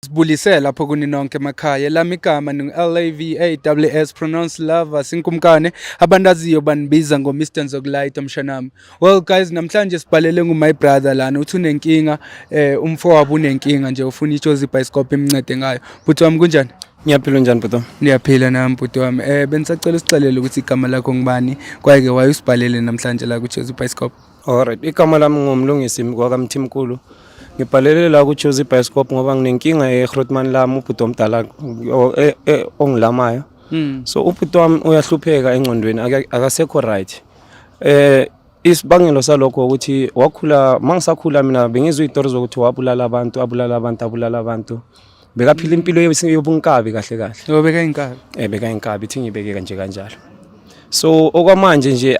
Sibulise lapho kuni nonke emakhaya lami igama ningu-LAVAWS pronounce lava sinkumkane abantu aziyo banibiza ngo-Mr Nzokulayita mshanami well guys namhlanje sibhalele ngu-my brother lana uthi unenkinga eh, umfowabo unenkinga nje ufuna itshozi ibhayisikobho imncede ngayo bhuti wami kunjani ngiyaphila njani bhuti wami ndiyaphila nami bhuti wami um eh, bendisacela usixelele ukuthi igama lakho ngubani kwaye-ke waye usibhalele namhlanje la kutshozi ibhayisikobho Alright, igama lami ngumlungisi kwakamthimkulu. Ngibhalele la kuchoose ibioskop ngoba nginenkinga eGrootman lami ubhuti omdala e, e, ongilamayo. Hmm. So ubhuti wami uyahlupheka engqondweni akasekho right. Eh isibangelo salokho ukuthi wakhula mangisakhula mina bengizwe izitori zokuthi wabulala abantu abulala abantu abulala abantu bekaphila impilo yobunkabi kahle kahle yobeka inkabi eh beka inkabi ithi ngibeke kanje kanjalo so okwamanje nje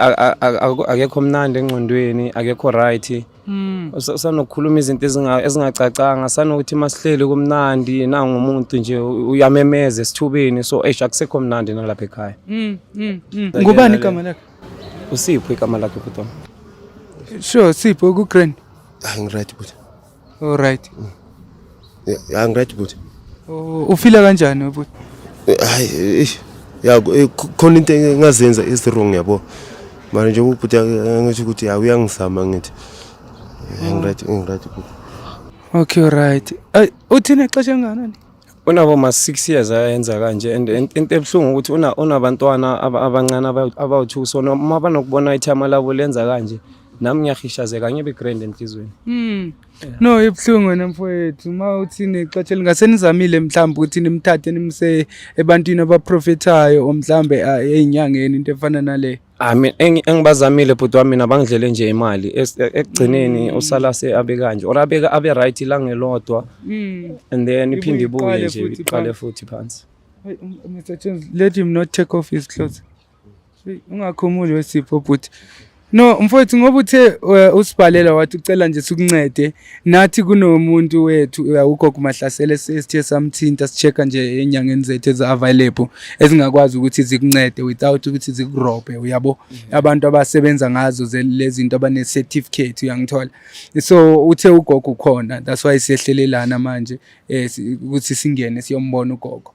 akekho mnandi engqondweni akekho right hmm. usanokukhuluma izinto ezingacacanga sanokuthi masihleli kumnandi nangumuntu nje uyamemeza esithubeni so eish akusekho mnandi nalapha ekhaya hmm, hmm, ngubani igama lakhe usipho igama lakhe bhuti sure sipho ku-grand hayi ngiright bhuti Alright. Yeah, angiready bhuti. Oh, ufila kanjani bhuti? Hayi, eish. Ya khona into engazenza is wrong yabo. Manje nje ubhuti angisho ukuthi ya uyangizama ngithi. Angiready, angiready bhuti. Okay, alright. Ay, uthina ixesha enganani? unabo ma 6 years ayenza kanje and into ebuhlungu ukuthi una unabantwana abancane abawu2 so uma banokubona ithama labo lenza kanje nami ngiyahishazeka ngibe grand enhlizweni mm. yeah. no ibuhlungu wena mfowethu uma uthi nixotshe lingase nizamile mhlawumbe ukuthi nimthathe nimse ebantwini abaprofethayo omhlawumbe ezinyangeni into efana nale Ami ah, engibazamile bhuti wami mina bangidlele nje imali e, ekugcineni mm. usala se abe kanje or abeka abe right la ngelodwa mm. and then iphinde ibuye nje iqale futhi phansi um, Mr. Jones let him not take off his clothes ungakhumuli wesipho bhuti no mfowethu ngoba uthe eh, usibhalela wathi ucela nje sikuncede nathi kunomuntu wethu eh, ugogo mahlasele sesithe samthinta sichecka nje enyangeni zethu ezi-available ezingakwazi ukuthi zikuncede without ukuthi zikurobhe uyabo mhm. abantu abasebenza ngazo lezi zinto abane-certificate uyangithola so uthe ugogo ukhona that's why siyehlelelana manje um ukuthi singene siyombona ugogo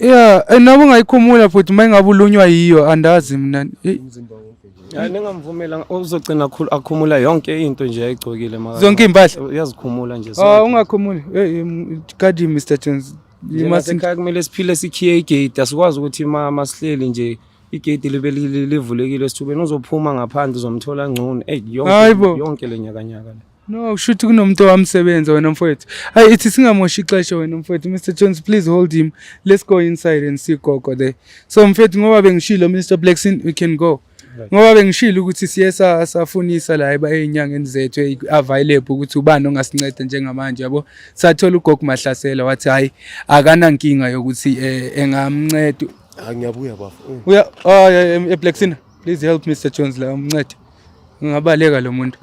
Yeah, eh, noma ungayikhumula futhi uma ingabe ulunywa yiyo andazi mina. Eh, Hayi ningamvumela uzogcina akhulu- akhumula yonke into nje ayigcokile maka. Zonke impahla. Uyazikhumula nje. Ah, ungakhumuli. Eh, em, kadi Mr. Jones. You must Ekhaya kumele siphile sikhiye igate asikwazi ukuthi ma masihleli nje igate libe li- li- livulekile esithubeni uzophuma ngaphandle uzomthola ngcono. Ey Hayi yonke bo. yonke lenyakanyaka le. No, kushuthi kunomuntu owamsebenza wena mfowethu. Hayi ithi singamoshi ixesha wena mfowethu. Mr Jones please hold him. Let's go inside and see Gogo there. So mfowethu ngoba bengishilo Mr Blackson we can go. Ngoba bengishilo ukuthi siye safunisa la eba ezinyangeni zethu available ukuthi ubani ongasinceda njengamanje yabo. Sathola uGogo Mahlasela wathi hayi akanankinga yokuthi eh, engamnceda. Angiyabuya bafo. Uya oh, e-, e-, e-Blackson please help Mr Jones la umncede. Ungabaleka lo muntu.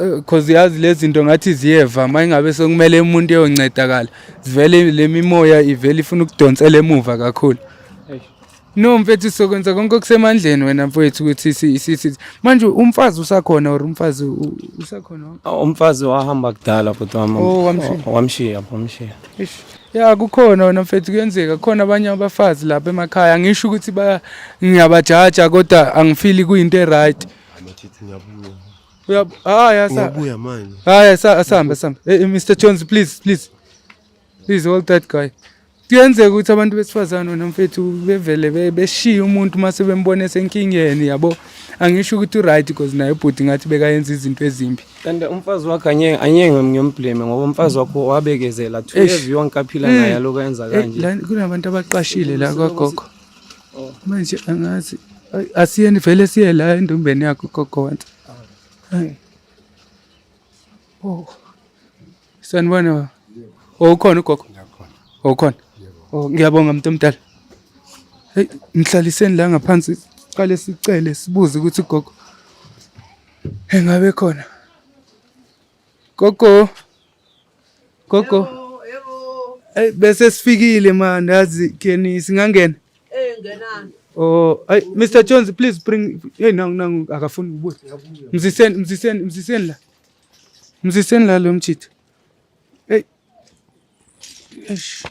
Eh, cause yazi lezi zinto ngathi ziyeva uma ingabe sekumele umuntu eyoncedakala zivele le mimoya ivele ifuna ukudonsela emuva kakhulu no mfethu sokwenza konke okusemandleni wena mfowethu ukuthi sisithi manje umfazi usakhona or umfazi usakhona ah, umfazi wahamba kudala bhuti wami oh, wamshiya wamshiya Ya kukhona wena mfethu kuyenzeka khona abanye abafazi lapha emakhaya ngisho ukuthi ba ngiyabajaja kodwa angifili kuyinto eright. Uya ah yasa. Uyabuya manje. Ah yasa asambe asambe. Hey eh, eh, Mr Jones please please. Please hold that guy. Kuyenzeka ukuthi abantu besifazane wena mfethu bevele beshiya umuntu mase bembone senkingeni yabo. Angisho ukuthi uright because naye ubhuti ngathi bekayenza izinto ezimbi. kanti umfazi wakhe angeke angeke ngiyomblame ngoba umfazi wakho wabekezela two Eish. years yonke aphila Eh. naye alokhu enza Eh, kanje la- kunabantu abaqashile la kwagogo Oh. manje angazi Ay, asiyeni vele siye la endumbeni yakho gogo wansi Ay. oh Sanibona baba. Oh, ukhona ugogo? Ngiyakhona. Oh, ukhona. Oh, ngiyabonga mntu omdala. Hey, mhlaliseni la ngaphansi siqale sicele sibuze ukuthi ugogo engabe khona. Gogo. Gogo. Hey, bese sifikile manje yazi keni singangena. Eh, ngenani. Oh, ay, Mr. Jones, please bring. Hey, nangu nangu akafuni ubuye. Mziseni, mziseni, mziseni la. Mziseni la lo mjitha. Hey. Eish.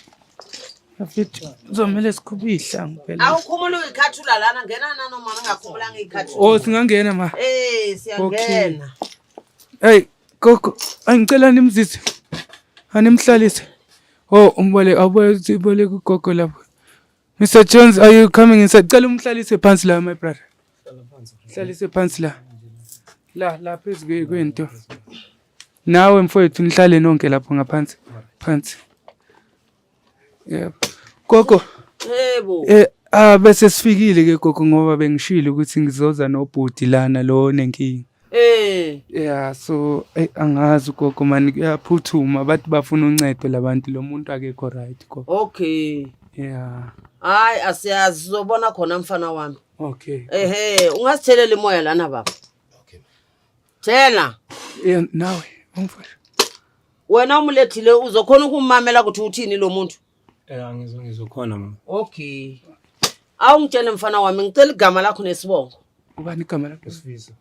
Afethu uzomele sikhuphe izihlangu phela. Awukhumula uyikhathula lana ngena nano mama ngakhumulanga ikhathula. Oh singangena ma. Eh siyangena. Hey gogo angicela nimzise. Animhlalise. Oh umbole awuboleke uboleke ugogo lapho. Mr Jones are you coming inside? Cela umhlalise phansi la my brother. hlalise phansi la la la phezu kwento nawe mfowethu nihlale nonke lapho ngaphansi phansi yebo gogo yebo eh ah bese sifikile ke gogo ngoba bengishilo ukuthi ngizoza nobhuti lana lo nenkingi Eh. Yeah so eh, angazi gogo mani kuyaphuthuma bathi bafuna uncedo labantu lo muntu akekho right gogo. Okay. Yeah. Hayi asiyazi sizobona khona mfana wami. Okay. Ehe, ungasitheleli moya lana baba. Okay. Thela. Yeah, nawe umfana. Wena umulethile uzokhona ukumamela ukuthi uthini lo muntu. Eh angizwa ngizokhona mama. Okay. Awungitshele mfana wami ngicela igama lakho nesibongo. Ubani igama lakho? Sifiso.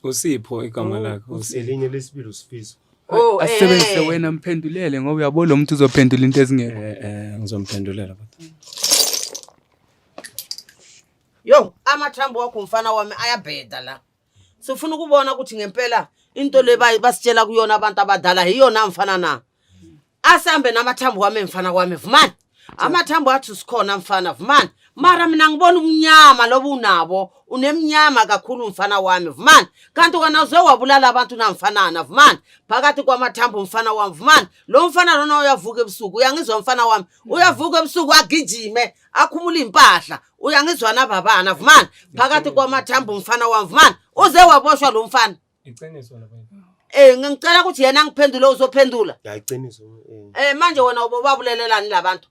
Usipho igama oh, lakhe Usipho. Elinye lesibili usifiso. Oh, eh. asebenzise wena mphendulele ngoba uyabo lo muntu uzophendula into ezingekho. Eh eh ngizomphendulela kodwa. Yo, amathambo wakho mfana wami ayabheda la. Sifuna ukubona ukuthi ngempela into le basitshela kuyona abantu abadala yiyona mfana na. asambe namathambo wami mfana kwami vumani amathambo athi sikhona mfana vumani mara mina ngibona umnyama loba unabo unemnyama kakhulu mfana wami vumani kanti wena uze wabulala abantu namfanana vumani phakathi kwamathambo mfana wami vumani lo mfana lona uyavuka ebusuku uyangizwa mfana wami uyavuka ebusuku agijime akhumula iy'mpahla uyangizwa nababana vumani phakathi kwamathambo mfana wami vumani uze waboshwa lo mfana Iqiniso la baby. Eh ngicela ukuthi yena angiphendule uzophendula. Ya iqiniso. Eh. eh manje wena ubobabulelelani labantu?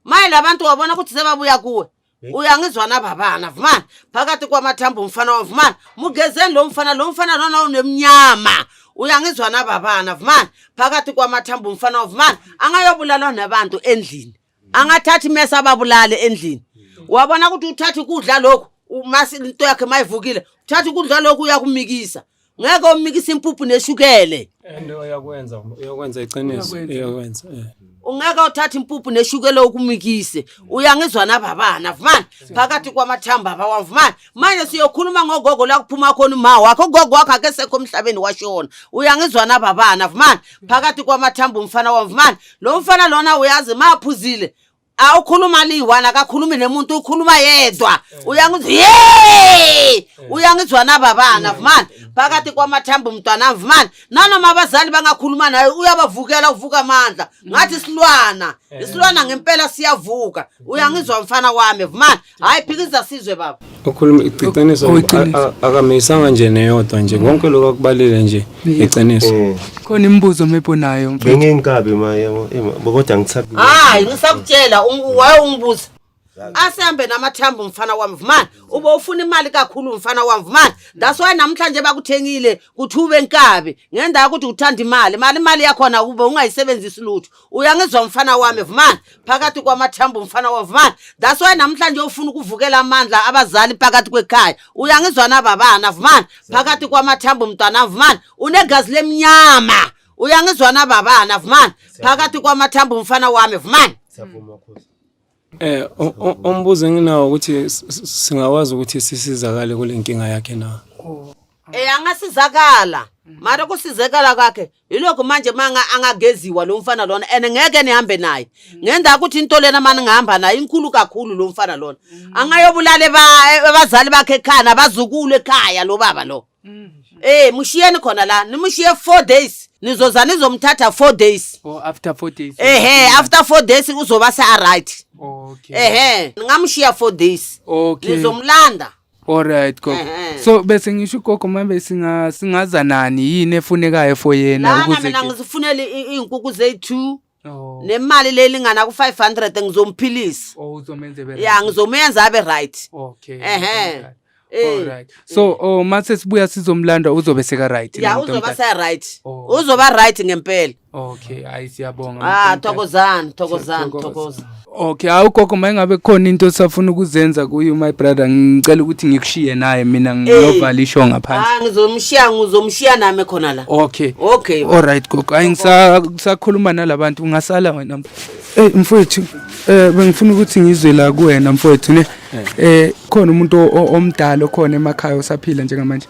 Maye labantu wabona ukuthi sebabuya kuwe. Eh? Uyangizwa na babana vumani phakathi kwamathambo umfana wavumani mugezeni lo mfana lo mfana lona unemnyama uyangizwa na babana vumani phakathi kwamathambo umfana wavumani angayobulalwa nabantu endlini angathathi mesa ababulale endlini wabona ukuthi uthatha ukudla lokhu umasi into yakhe mayivukile uthatha ukudla lokhu uyakumikisa ngeke umikisa impuphu neshukele and uyakwenza uyakwenza iqiniso uyakwenza eh. ungeke uthatha impuphu neshukele ukumikise uyangizwa nababana vumani phakathi kwamathamba bawa vumani manje siyokhuluma ngogogo la kuphuma khona uma wakho ugogo wakho akesekho emhlabeni washona uyangizwa nababana vumani phakathi kwamathamba umfana wam vumani lo mfana lona uyazi maphuzile awukhuluma liyi-one akakhulumi nemuntu ukhuluma yedwa uyangizwa ye uyangizwa nababana vumani phakathi kwamathambo mntwana vumani nanoma abazali bangakhuluma naye uyabavukela uvuka amandla ngathi isilwana isilwana ngempela siyavuka uyangizwa mfana wami vumani hayi phikisa sizwe baba ukhuluma iqiniso oh, oh, akamisanga nje neyodwa nje konke lokho akubalile nje iqiniso mm. khona imibuzo mebonayo mfethu benginkabi maye kodwa ngisabi hayi ngisakutshela waye ungibuza asembe namathambo mfana wami vumani ube ufuna imali kakhulu mfana wami vumani that's why namhlanje bakuthengile kuthi ube nkabi ngendawo ukuthi uthanda imali mali imali yakhona ube ungayisebenzisi lutho uyangizwa mfana wami vumani phakathi kwamathambo mfana wami vumani that's why namhlanje ufuna ukuvukela amandla abazali phakathi kwekhaya uyangizwa na babana vumani phakathi kwamathambo mntwana vumani unegazi lemnyama uyangizwa na babana vumani phakathi kwamathambo mfana wami vumani Eh umbuzo enginawo ukuthi singakwazi ukuthi sisizakale kule nkinga yakhe na? Oh. Eh angasizakala. Mara kusizekala kwakhe yilokho manje manga angageziwa lo mfana lona and ngeke nihambe naye. Ngenda ukuthi into lena mani ngihamba naye inkulu kakhulu lo mfana lona. Angayobulala abazali bakhe ekhaya nabazukulu ekhaya lo baba lo. Eh mushiyeni khona la nimushiye 4 days nizoza nizomthatha 4 days or after 4 days ehe after 4 days uzoba se right okay ehe ningamushiya 4 days okay nizomlanda Alright gogo. Ehhe. So bese ngisho ugogo manje singa singaza nani yini efunekayo for yena lana ukuze mina ngizifunele i- iy'nkuku zethu Oh. Nemali lelingana ku500 ngizomphilisa. Oh uzomenza ebe. Yeah ngizomenza abe right. Okay. Ehhe. Eh. Alright. So oh mase sibuya sizomlanda uzobe seka right. Yeah uzoba sa right. Oh. Uzoba right ngempela. Okay, ayi siyabonga. Ah thokozani, thokozani, thokozani. Okay, hawu gogo mayengabe khona into osafuna ukuzenza kuyo my brother ngicela ukuthi ngikushiye naye mina ngiyovala isho ngaphansi. Ah ngizomshiya ngizomshiya nami khona la. Okay. Okay. All right gogo. Hayi ngisakhuluma nalabantu ungasala wena. Eh mfowethu eh bengifuna ukuthi ngizwe la kuwena mfowethu ne eh khona umuntu omdala okhona emakhaya osaphila njengamanje.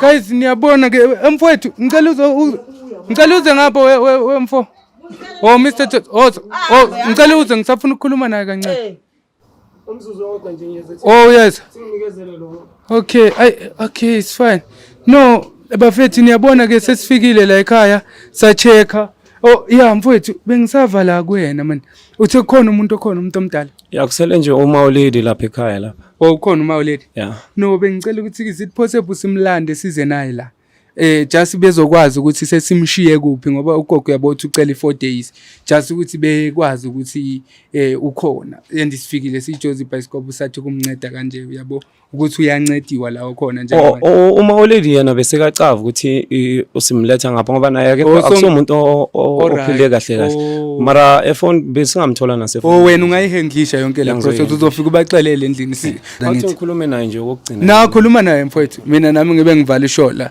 Guys niyabona ke mfowethu ngicela uze ngicela uze ngapha we mfo. Oh Mr. Jones, oh, oh ngicela uze ngisafuna ukukhuluma naye kancane. Umzuzu owodwa nje ngiyeza. Oh yes. Sinikezele lo. Okay, I okay, it's fine. No, bafethu niyabona ke sesifikile la ekhaya sacheka Oh yeah mfowethu bengisava la kuyena man. Uthe khona umuntu okhona umuntu omdala. Yakusele nje uma ulidi lapha ekhaya lapha. Oh khona uma ulady. Yeah. No bengicela ukuthi is it possible simlande size naye la. Eh just bezokwazi ukuthi sesimshiye kuphi ngoba ugogo uyabothi ucela i4 days. Just ukuthi bekwazi ukuthi eh ukhona. Andisifikile sijozi bicycle usathi kumnceda kanje uyabo ukuthi uyancediwa la khona nje O- o- uma olady yena besekacava ukuthi i- usimletha ngapha ngoba naye akekho- Oh, so- akusomuntu o- o- Alright. ophile kahle kahle Oh. mara efoni besingamthola nasefoni Oh wena ungayihendlisha yonke le Ngizoyihhendlisha. process uzofika ubaxelele endlini si. Wathi ngithi. ngikhulume naye nje okokucina Nakhuluma naye mfowethu. Mina nami ngibe ngivala ishola.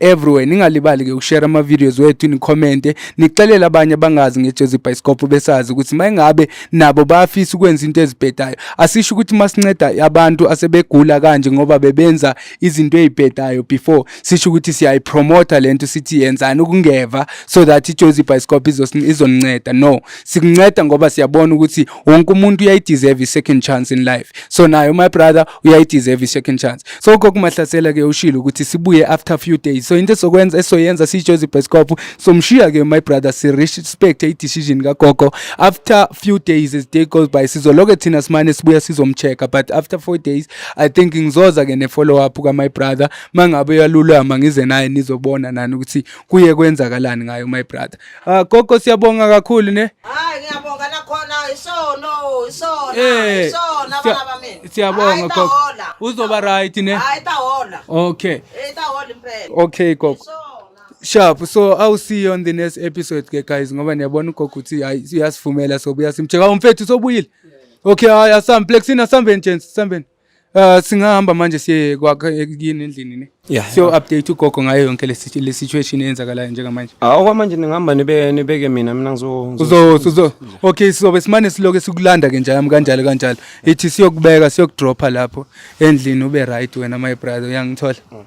everywhere ningalibali ke ukushare ama videos wethu ni comment nixelele abanye abangazi ngejezi bicycle besazi ukuthi mayingabe nabo bayafisa ukwenza into ezibhedayo asisho ukuthi masinceda abantu asebegula kanje ngoba bebenza izinto ezibhedayo before sisho ukuthi siyayi promoter lento sithi yenzani ukungeva so that ijezi bicycle izosinceda no sikunceda ngoba siyabona ukuthi wonke umuntu uyayideserve i-second chance in life so nayo my brother uyayideserve i-second chance so kokumahlasela ke ushilo ukuthi sibuye after a few days so into esokwenza esoyenza siyijozi ibhescop somshiya ke my brother si-respect i-decision kagogo after few days as day goes by sizoloke thina simane sibuya sizomcheck but after four days i think ngizoza ke ne-follow up ka-my brother mangabe uyalulama ngize naye nizobona nani ukuthi kuye kwenzakalani ngayo my brother Ah gogo siyabonga kakhulu ne. Hayi ngiyabonga nakhona isono isono Eh, isono siya- abana bami. siyabonga, Hayi, gogo. tahola. Uzoba right ne. Hayi tahola. Okay. Eh tahola impela. Okay gogo. Isono. Sharp. So I'll see you on the next episode ke guys ngoba niyabona ugogo ukuthi hayi uyasivumela sobuya simcheka umfethu sobuyile. Okay, hayi asambhlexini asambeni gents, sambeni. Uh, singahamba manje siye kwakhe yini endlini ne yeah, so yeah. update ugogo ngayo yonke le situation eyenzakalayo njengamanje ah okwamanje ningihamba nibe nibeke mina mina ngizo uzo uzo okay sizobe simane siloke sikulanda ke njalo kanjalo kanjalo ithi siyokubeka siyokudropha lapho endlini ube right wena my brother uyangithola